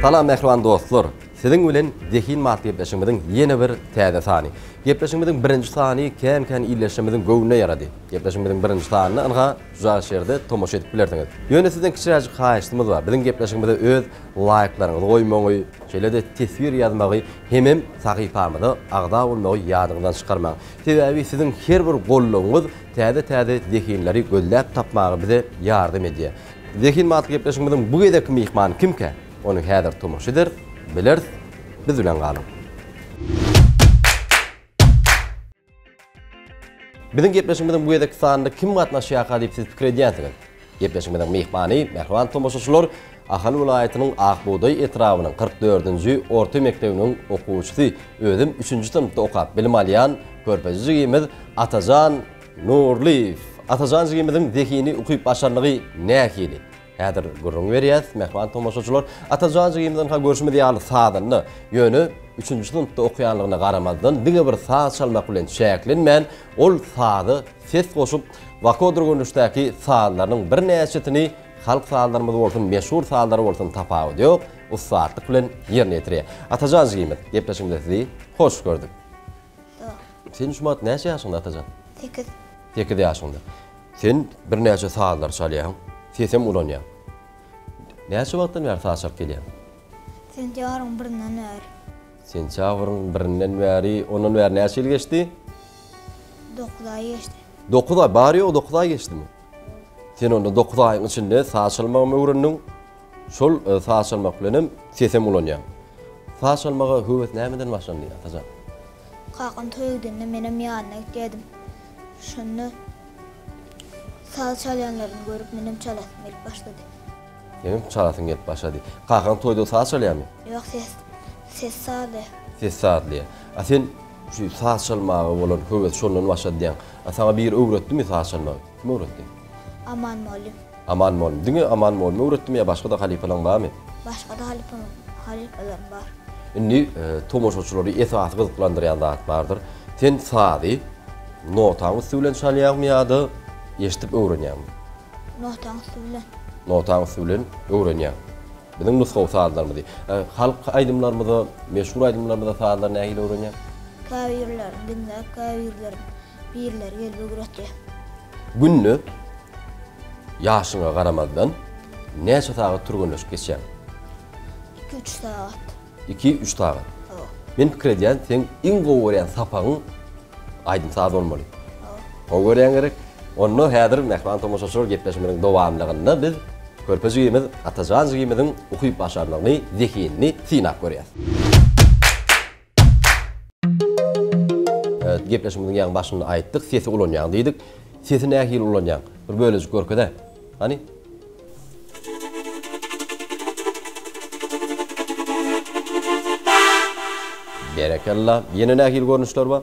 Salam mähriban dostlar! Siziň bilen Zehin Mat gepleşigimiziň ýene bir täze sany. Gepleşigimiziň birinji sany kän-kän ildeşlerimiziň göwnüne ýarady. Gepleşigimiziň birinji sanyny ynha, Uzak şerde tomaşa edip bilersiňiz. Ýöne sizden kiçiräjik haýyştymyz bar, biziň gepleşigimize öz laýklaryňyzy goýmagy, şeýle-de teswir ýazmagy hemem sahypamyza agza bolmagy ýadyňyzdan çykarmaň. Sebäbi siziň her bir goldawyňyz täze-täze zehinleri gözläp tapmaga bize ýardam edýär. Zehin batly gepleşigimiziň bu gezekki myhmany kimkä? Ony häzir tomaşa eder, bileris. Biz bilen galyň! Biziň gepleşigimiziň bu gezekki sanynda kim gatnaşýarka diýip siz pikir edýänsiňiz? Gepleşigimiziň myhmany, mähriban tomaşaçylar, Ahal welaýatynyň Akbugdaý etrabynyň kyrk dördünji orta mekdebiniň okuwçysy, özem üçünji synpda okap bilim alýan körpeje jigimiz Atajan Nurlyýew. Atajan jigimiziň zehini, ukyp-başarnygy nähili? Häzir gürrüň berýäs, mähriban tomaşaçylar. Atajan jigimizdenka görşümiz ýaly sazanda, ýöne üçünji synpda okaýanlygyna garamazdan, diňe bir saz çalmak bilen çäklenmän, ol saza ses goşup, wakodur görnüşdäki sazlarynyň birnäçesini, halk sazlarymyz bolsun, meşhur sazlary bolsun, tapawudy ýok, ussatlyk bilen ýerine ýetirýär. Atajan jigimiz, gepleşigimize sizi hoş gördük. Ýok. Sen şu wagt näçe ýaşyňda Atajan? Sekiz. Sekiz ýaşyňda. Sen birnäçe sazlar çalýaň, sesem ulanýaň. Näçe wagtdan bäri saz çalyp gelýäň? Sentýabryň birinden bäri. Sentýabryň birinden bäri, ondan bäri näçe ýyl geçdi? Dokuz aý geçdi. Dokuz aý, bary-ýogy dokuz aý geçdimi? Sen onda dokuz aýyň içinde saz çalmagam öwrendiň, Şol saç almak bilen hem sesem ulanýar. Saç almaga höwes nämeden başlandy, Atajan? Kakam toý edende menem ýanyna gitýärdim. Şonda saz çalýanlaryny görüp menem çalasym gelip başlady. Seniň çalasyň gelip başlady. Kakaň toýda saz çalýarmy? Ýok, ses ses sazlaýar. Ses sazlaýar. A sen şu saz çalmaga bolan höwes şondan başlady diýýäň. A saňa biri öwretdimi saz çalmagy? Kim öwretdi? Aman mugallym. Aman bol. Diňe aman bolmy öwretdim ýa başga-da halypalaň barmy? Başga-da halypam, halypalarym bar. Indi tomaşaçylary esasy gyzyklandyrýan zat bardyr. Sen sazy notaň üsti bilen çalýaňmy ýa-da eşidip öwrenýäňmi? Notaň üsti bilen. Notaň üsti bilen öwrenýäň. Biziň nusgawy sazlarymyzy. Halk aýdymlarymyza, meşhur aýdymlarymyza sazlary nähili öwrenýäň? Käbirlerini diňläp, käbirlerini Birileri gelip ögretýär. Günde ýaşyňa garamazdan näçe sagat türgenleşip geçýäň? Iki-üç sagat. Iki-üç sagat. Hawa. Men pikir edýän, seň iň gowy görýän sapagyň aýdym-saz bolmaly. Hawa. Gowy görýäň gerek. Onda häzir mähriban tomaşaçylar gepleşigimiziň dowamlygynda biz körpe jigimiz Atajan jigimiziň ukyp-başarnygyny, zehinini synap görýäs. Gepleşigimiziň ýaňy başynda aýtdyk, sesi ulanýaň diýdik. Sesi nähili ulanýaň? Bir bölejik görkezä. Hany? Berekella. Ýene nähili görnüşler bar?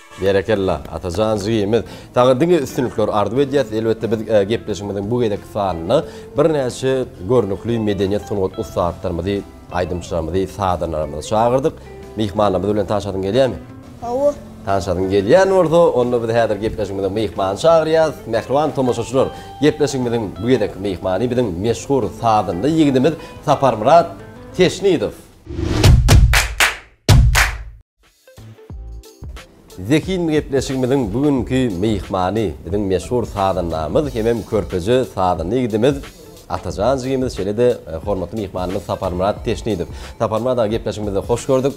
Berekella, Atajan jigimiz! Saňa diňe üstünlikler arzuw edýäs. Elbetde, biz gepleşigimiziň bu gezekki sanynda birnäçe görnükli medeniýet, sungat ussatlarymyzy, aýdymçylarymyzy, sazandalarymyzy çagyrdyk. Myhmanlarymyz bilen tanşasyň gelýärmi? Hawa. Tanşasyň gelýän bolsa, onda biz häzir gepleşigimize myhmany çagyrýas. Mähriban tomaşaçylar, gepleşigimiziň bu gezekki myhmany biziň meşhur sazanda ýigidimiz Saparmyrat Teşnidow. Zehin gepleşigimiziň bu günki myhmany biziň meşhur sazandamyz hemem körpeje sazanda ýigidimiz Atajan jigimiz şeýle-de hormatly myhmanymyz Saparmyrat Teşnidow. Saparmyrat aga gepleşigimizde hoş gördük.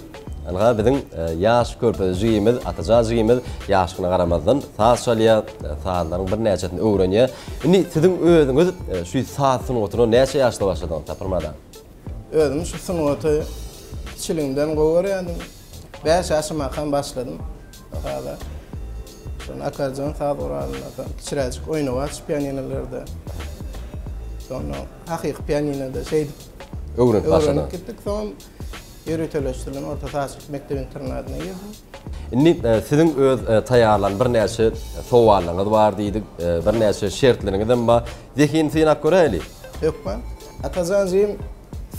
Ynha biziň ýaş körpeje jigimiz Atajan jigimiz ýaşlygyna garamazdan saz çalýar, sazlaryň birnäçesini öwrenýär. Indi siziň özüňiz şu saz sungatyna näçe ýaşda başladyňyz Saparmyrat aga? Özüm şu sungaty kiçiligimden gowy görýärdim. Bäş ýaşymdakam başladym saza. Şonda akkordeon saz guralynda, soň kiçiräjik oýnawaç pianinolerde. Soňra hakyky pianinoda şeýdip Öwrenip başladyň. öwrenip gitdik. Soň ýöriteleşdirilen orta sazçylyk mekdep-internadyna girdim. Indi e, siziň öz e, taýýarlan birnäçe sowallaryňyz bar diýdik, e, birnäçe şertleriňizem bar. Zehinini synap göräýeli. Hökman. Atajan jigim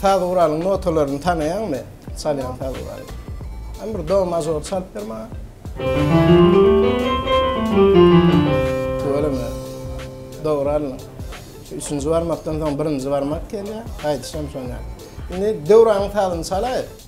saz guralyň notalaryny tanaýaňmy? Çalýan saz guraly. Hany bir do mažor çalyp ber maňa. Tüweleme. Do guralynyň. Şu üçünji barmakdan soň birinji barmak gelýär. Gaýdyşam şonda. Indi Döwranyň sazyny çalaýyk.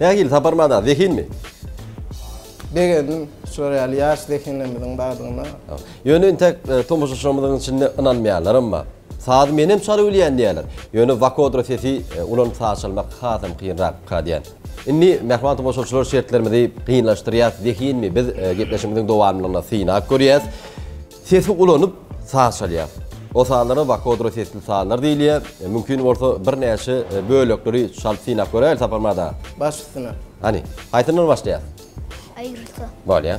Nähili sapar mada, zehinmi? Begendim, şular ýaly ýaş zehinlerimiziň bardygyna. Ýöne intäk tomaşaçylarymyzyň içinde ynanmaýanlaram bar. Sazy menem çala bilýän diýýärler. Ýöne vokodra sesi ulanyp saz çalmak hasam kynrakka diýýän. Indi mähriban tomaşaçylar şertlerimizi kynlaşdyrýas, zehinmi biz gepleşigimiziň dowamlygyna synap görýäs. Sesi ulanyp, saz çalýar. Osalara vakodro sesli sazlar diýilýär. Mümkin bolsa birnäçe bölekleri çalyp synap göräýeli Saparmyrat aga. Baş üstüne. Hany, haýsyndan başlaýas? Aýgyrsy. Bolýa.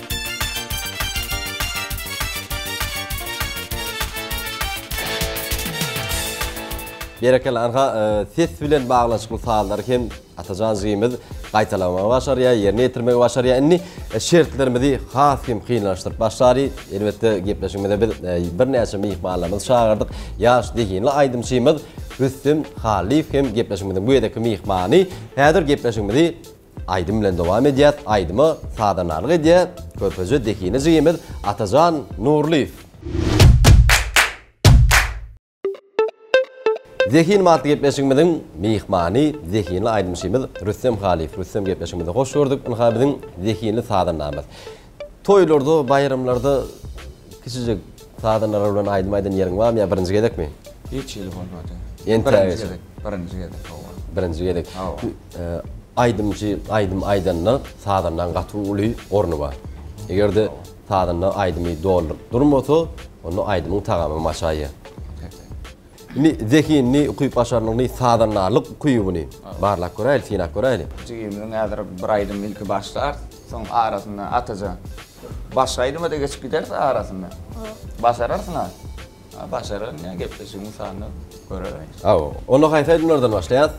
Berekella Arha ses bilen baglanyşykly sazlary hem Atajan jigimiz gaýtalamagy başarýar, ýerine ýetirmegi başarýar. Indi e, şertlerimizi has hem kynlaşdyryp başlary. Elbetde gepleşigimize biz e, birnäçe myhmanlarymyzy çagyrdyk. Ýaş zehinli aýdymçymyz Rüstem Halyýew hem gepleşigimiziň bu ýerdeki myhmany. Häzir gepleşigimizi Aýdym bilen dowam edýäs aýdyma sazandalyk edýä körpeje dehine jigimiz Atajan Nurlyýew. Zehin matly gepleşigimiziň myhmany zehinli aýdymçymyz Rüstem Halyýew. Rüstem gepleşigimize hoş gördük. Ynha biziň zehinli sazandamyz. Toýlarda, baýramlarda kiçijik sazandalar bilen aýdym aýdan ýeriň barmy ýa birinji gezekmi? Hiç hili bolmady. Birinji gezek. Birinji gezek, hawa. Birinji gezek. Hawa. Aýdymçy aýdym aýdanda sazandaň gaty uly orny bar. Eger-de sazanda aýdymy dolduryp durmasa, onda aýdymyň tagamy maşaýýar. Indi zehinini, ukyp-başarnygyny, sazandarlyk ukybyny barlap göräýeli, synap göräýeli. Jigimiziň häzir bir aýdymy ilki başlar, soň arasynda Atajan, başga aýdyma-da geçip gideris arasynda. Başararsyň-a? A başararyn ýa, gepleşigiň sanyny görereýin. Hawa, onda haýsy aýdymlardan başlaýas?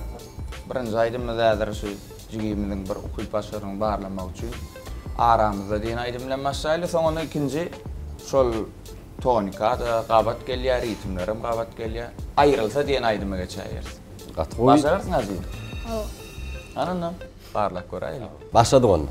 Birinji aýdymymyz häzir şu jigimiziň bir ukyp-başarnygyny barlamak üçin Aramyzda diýen aýdym bilen başlaýly, soňundan ikinji şol Tonika-da gabat gelýär, ritmlerem gabat gelýär. Aýrylsa diýen aýdyma geçäýeris. Gaty gowy. Başararsyň Azim? Hawa. Hany onda, barlap göräýeli. Başladyk onda.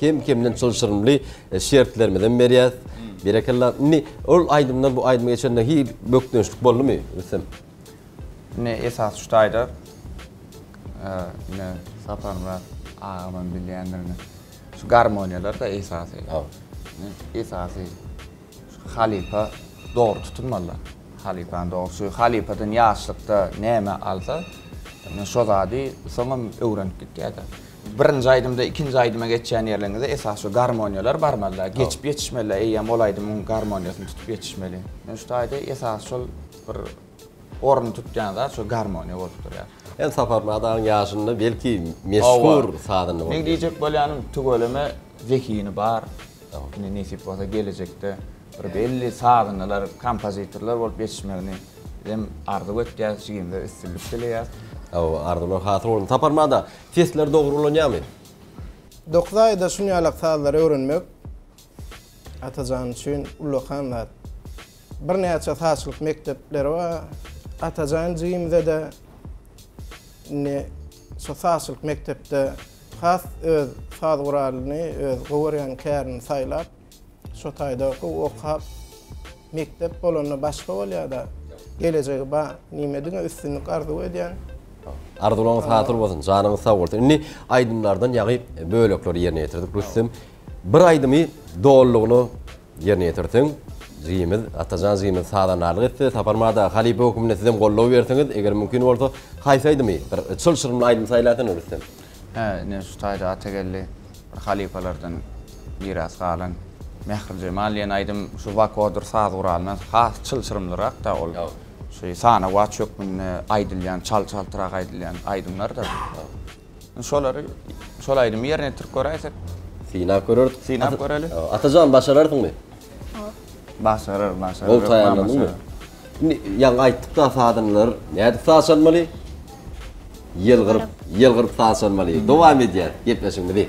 Kem kemden çylşyrymly şertlermizem berýäs. Berekella. Indi ol aýdymdan bu aýdyma geçende hi bökdençlik boldumy Rüstem? Ine esasy şu taýda ine Saparmyrat agamam bilýändir ine. Şu garmoniýalarda esasy. Esasy şu halypa dogry tutunmalylar. Halypany dogry şu halypadan ýaşlykda näme alsa ine şo zady soňam öwrenip gitýärler. Birinji aýdymda ikinji aýdyma geçýän ýerleriňizde esasy şu garmoniýalar barmalyda, geçip ýetişmelida, eýýäm ol aýdymyň garmoniýasyny tutup ýetişmeli. Men şu taýda esasy şol bir ornuny tutýan zat şol garmoniýa bolup durýar. Ýa Saparmyrat agaň ýaşynda belki meşhur sazanda boldy. Meň diýjek bolýanym tüweleme zehini bar. Ine nesip bolsa gelejekde bir belli sazandalar, kompozitorlar bolup ýetişmegini bizem arzuw etýäs, jigimize üstünlik dileýäs. Hawa arzuwlar hasyl bolsun. Saparmyrat aga, Sesler dogry ulanýamy? Dokuz aýda şun ýalak sazlary öwrenmek Atajan üçin ullakan zat. Birnäçe sazçylyk mekdepleri bar. Atajan jigimizede indi şo sazçylyk mekdepde has öz saz guralyny, öz gowy görýän kärini saýlap, Şo taýda gowy okap mekdep bolanda başga bolýada gelejegi bar nime diňe üstünlik arzuw edýän. Arzuwlaryňyz hasyl bolsun janyňyz sag bolsun indi aýdymlardan ýaňy bölekleri ýerine ýetirdik Rüstem bir aýdymy dolulygyna ýerine ýetirseň jigimiz Atajan jigimiz sazandarlyk etse Saparmada halypa höküminde sizem goldaw berseňiz eger mümkin bolsa haýsy aýdymy bir çylşyrymly aýdym saýlasaň Rüstem. Hä, ine, şu taýda Atageldi bir halypalardan miras galan Mährijemal diýen aýdym şu wakodyr saz guralyna has çylşyrymlyrak-da ol. Şu sanawaç hökmünde aýdylýan, çal-çaltrak aýdylýan aýdymlar-da. Indi şolary, şol aýdymy ýerine ýetirip göräýsek. Synap göreris. Synap göreli. Atajan, başararsyňmy? Hop. Başarar, başarar. Gowy taýýarlandyňmy? Indi ýaňy aýtdyk da sazanlar nädip saz çalmaly? Ýylgyryp, ýylgyryp saz çalmaly. Dowam edýäs gepleşigimizi.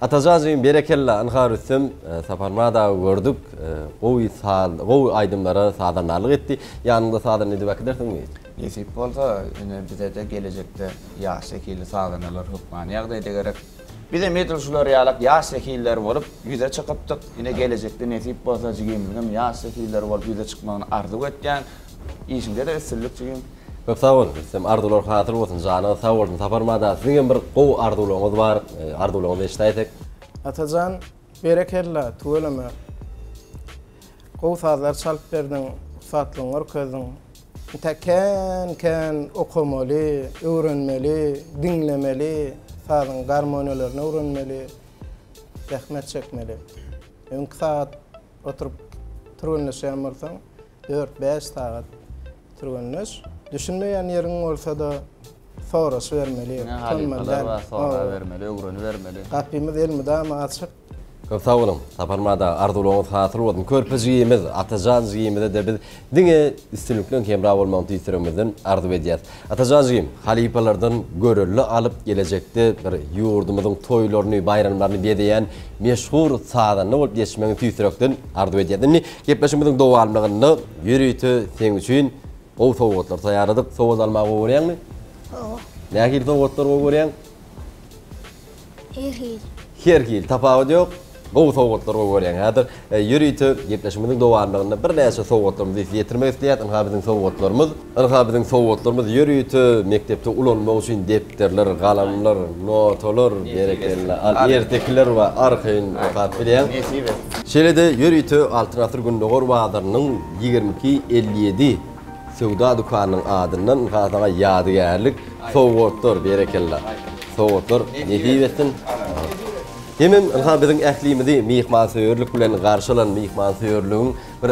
Atajaanjygym berekella ynha Rüstem Saparmyrat aga gördük gowy saz gowy aýdymlara sazandarlyk etdi ýanyňda sazanda edip äkidersiňmi? Nesip bolsa ine bizede gelejekde ýaş zehinli sazandalar hökmany ýagdaýda gerek. Bizem edil şular ýalak ýaş zehinler bolup ýüze çykypdyk ine gelejekde nesip bolsa jigimizgem ýaş zehinler bolup ýüze çykmagyny arzuw etýän. Işiňdede üstünlik jigim. Köp sag bol Rüstem arzuwlar hasyl bolsun janyňyz sag bolsun Sapar Mada siziň hem bir gowy arzuwlaryňyz bar arzuwlaryňyzy eşidäýsek. Atajan berekella tüweleme gowy sazlar çalyp berdiň ussatlygyňy görkezdiň intäk kän kän okamaly öwrenmeli diňlemeli sazyň garmoniýalaryny öwrenmeli zähmet çekmeli öňki sagat oturyp türgenleşýän bolsaň Dört-bäş sagat türgenleş. Düşünmeýän ýeriň bolsa-da, soraşybermeli, Diňe halypalar bar, sorabermeli, öwrenibermeli. Gapymyz elmydama açyk. Köp sag boluň, Sapar Mada, arzuwlaryňyz hasyl bolsun! Körpe jigimiz, Atajan jigimize-de biz diňe üstünlikleň hemra bolmagyny tüýs ýüregimizden arzuw edýäris. Atajažym halypalardan görelde alyp gelejekde bir ýurdumyzyň toýlaryny, baýramlaryny bezeýän meşhur sazanda bolup geçmegiňi tüýs ýürekden arzuw edýän. Indi gepleşigimiziň dowamlygynda ýörite seň üçin gowy sowgatlar taýýarladyk. Sowgat almagy gowy görýäňmi? Gowy. Nähili sowgatlar gowy görýäň? Her hili. Her hili, tapawut ýok. Gowy sowgatlar goýup görýäň häzir. Ýörite gepleşigimiziň dowamlygynda birnäçe sowgatlarymyzy size ýetirmek isleýäs. Ynha biziň sowgatlarymyz. Ynha biziň sowgatlarymyz ýörite mekdepde ulanmak üçin depderler, galamlar, notalar, berekella, al ertekiler we arkaýyn okap bilýäň. Nesip etsin. Şeýle-de ýörite Altyn asyr Gündogar bazarynyň ýigrimi iki elli ýedi. Söwda dükanynyň adyndan Gazaga ýadygärlik sowgatlar berekella sowgatlar nesip etsin. Hemem ynha biziň ählimizi myhmansöýerlik bilen garşy alan myhmansöýerligiň bir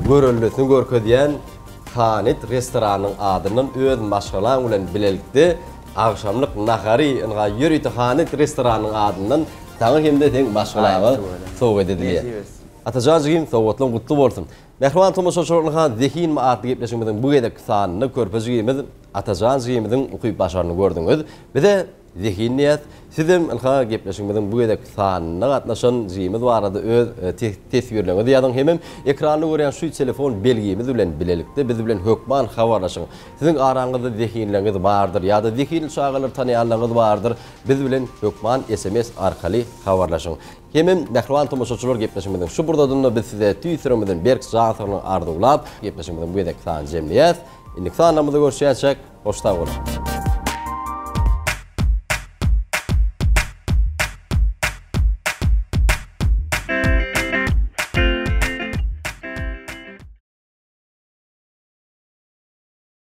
göreldesini görkezýän Kanet restoranynyň adyndan öz maşgalaň bilen bilelikde agşamlyk nahary ynha ýörite Kanet restoranynyň adyndan saňa hem-de seň maşgalaňa sowgat edilýär. Atajan jigim sowgatlaň gutly bolsun. Mähriban tomaşaçy Orlahan zehinmi atly gepleşigimiziň bu gezekki sanynda körpe jigimiz Atajan jigimiziň ukyp-başaryny gördüňiz. Biz-ä zehin diýýäs. Sizem ynha gepleşigimiziň bu gezekki sanynda gatnaşan jigimiz barada öz teswirleriňizi ýazyň hemem ekranda görýän şu telefon belgimiz bilen bilelikde biz bilen hökman habarlaşyň. Siziň araňyzda zehinleriňiz bardyr ýa-da zehinli çagalary tanaýanlaryňyz bardyr, biz bilen hökman sms arkaly habarlaşyň. Hemem mähriban tomaşaçylar gepleşigimiziň şu pursatynda biz size tüýs ýüregimizden berk jan saglygyny arzuwlap, gepleşigimiziň bu gezekki sanyny jemleýäs. Indiki sanlarymyzda görüşýänçäk, hoş sag boluň!